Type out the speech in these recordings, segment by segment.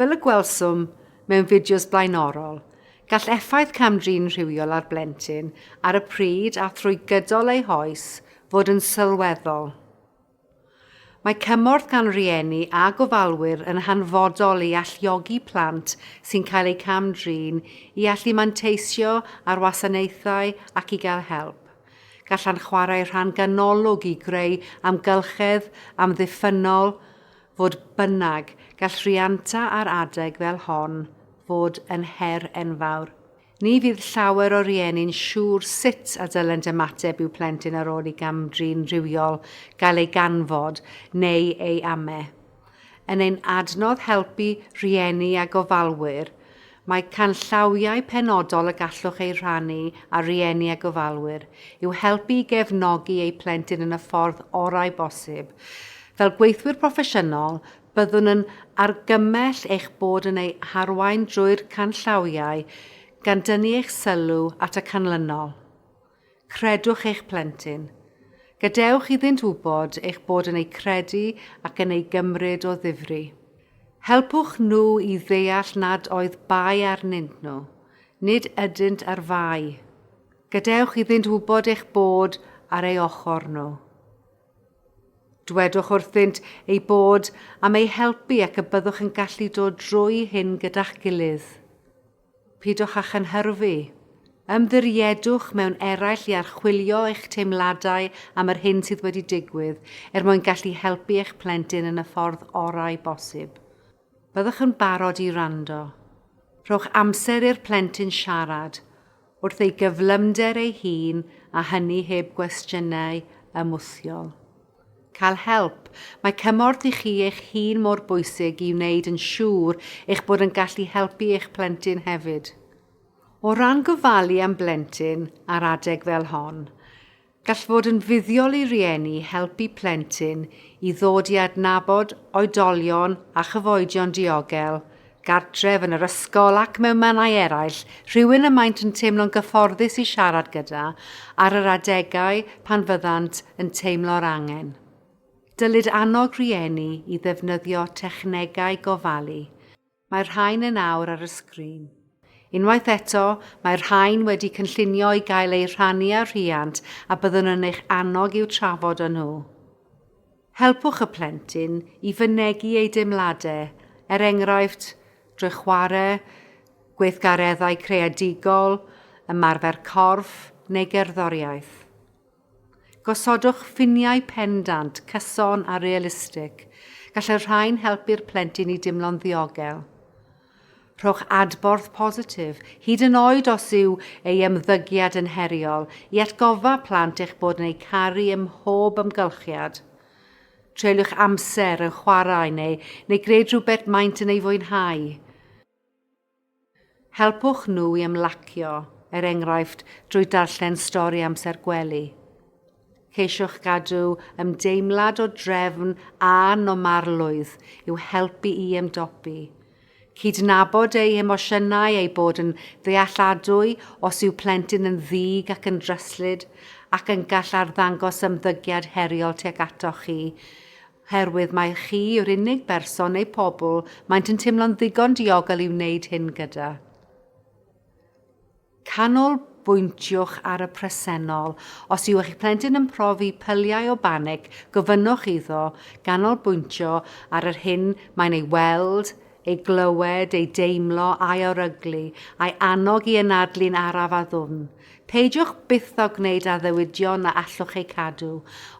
Fel y gwelswm mewn fideos blaenorol, gall effaith cam-drin rhywiol ar blentyn ar y pryd a thrwy gydol ei hoes fod yn sylweddol. Mae cymorth gan rieni a gofalwyr yn hanfodol i alluogi plant sy'n cael eu cam-drin i allu manteisio ar wasanaethau ac i gael help. Gallan chwarae rhan ganolog i greu amgylchedd amddiffynnol, fodd bynnag, gall rhianta ar adeg fel hon fod yn her enfawr. Ni fydd llawer o rieni'n siŵr sut a dylent ymateb i'w plentyn ar ôl i gam-drin rhywiol gael ei ganfod neu ei ame. Yn ein adnodd Helpu Rhieni a Gofalwyr, mae canllawiau penodol y gallwch eu rhannu â rhieni a gofalwyr i'w helpu i gefnogi eu plentyn yn y ffordd orau bosib. Fel gweithwyr proffesiynol, byddwn yn argymell eich bod yn eu harwain drwy'r canllawiau, gan dynnu eich sylw at y canlynol. Credwch eich plentyn. Gadewch iddynt wybod eich bod yn eu credu ac yn eu gymryd o ddifri. Helpwch nhw i ddeall nad oedd bai arnynt nhw, nid ydynt ar fai. Gadewch iddynt wybod eich bod ar ei ochr nhw. Dwedwch wrthynt eu bod am eu helpu ac y byddwch yn gallu dod drwy hyn gyda'ch gilydd. Pidwch â chynhyrfu. Ymddiriedwch mewn eraill i archwilio eich teimladau am yr hyn sydd wedi digwydd er mwyn gallu helpu eich plentyn yn y ffordd orau bosib. Byddwch yn barod i wrando. Rhowch amser i'r plentyn siarad, wrth ei gyflymder ei hun a hynny heb gwestiynau ymwthiol. Cael help. Mae cymorth i chi eich hun mor bwysig i wneud yn siŵr eich bod yn gallu helpu eich plentyn hefyd. O ran gofalu am blentyn ar adeg fel hon, gall fod yn fuddiol i rieni helpu plentyn i ddod i adnabod oedolion a chyfoedion diogel gartref, yn yr ysgol ac mewn mannau eraill, rhywun y maent yn teimlo'n gyfforddus i siarad gyda ar yr adegau pan fyddant yn teimlo'r angen. Dylid annog rhieni i ddefnyddio technegau gofalu. Mae'r rhain yn awr ar y sgrin. Unwaith eto, mae'r rhain wedi cynllunio i gael eu rhannu â rhiant a byddwn yn eich annog i'w trafod â nhw. Helpwch y plentyn i fynegi ei deimladau, er enghraifft, drwy chwarae, gweithgareddau creadigol, ymarfer corff neu gerddoriaeth. Gosodwch ffiniau pendant, cyson a realistig, gall y rhain helpu'r plentyn i deimlo'n ddiogel. Rhowch adborth positif, hyd yn oed os yw ei ymddygiad yn heriol, i atgoffa plant eich bod yn eu caru ym mhob amgylchiad. Treuliwch amser yn chwarae neu neu gwneud rhywbeth maent yn ei fwynhau. Helpwch nhw i ymlacio, er enghraifft, drwy darllen stori amser gwely. Ceisiwch gadw ymdeimlad o drefn a normalrwydd i'w helpu i ymdopi. Cydnabod ei hemosiynau, eu bod yn ddealladwy os yw plentyn yn ddig ac yn dryslyd ac yn gall arddangos ymddygiad heriol tuag atoch chi, oherwydd mai chi yw'r unig berson neu pobl maent yn teimlo'n ddigon diogel i wneud hyn gyda. Canolbwyntiwch ar y presennol. Os yw eich plentyn yn profi pyliau o banig, gofynnwch iddo ganolbwyntio ar yr hyn mae'n ei weld, ei glywed, ei deimlo, a'i oryglu, a'i annog i anadlu'n araf a ddwfn. Peidiwch byth â gwneud addewidion na allwch eu cadw.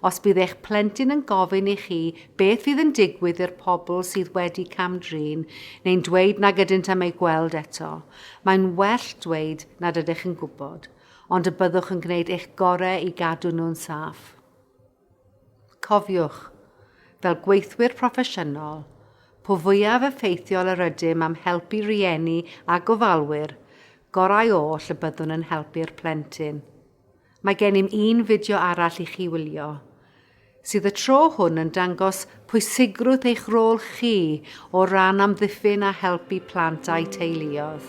Os bydd eich plentyn yn gofyn i chi beth fydd yn digwydd i'r pobl sydd wedi cam-drin, neu'n dweud nag ydynt am eu gweld eto, Mae'n well dweud nad ydych yn gwybod, ond y byddwch yn gwneud eich gorau i gadw nhw'n saff. Cofiwch, fel gweithwyr proffesiynol, po fwyaf effeithiol yr ydym am helpu rhieni a gofalwyr, gorau oll y byddwn yn helpu'r plentyn. Mae gennym un fideo arall i chi wylio, sydd y tro hwn yn dangos pwysigrwydd eich rôl chi o ran amddiffyn a helpu plant a'u teuluoedd.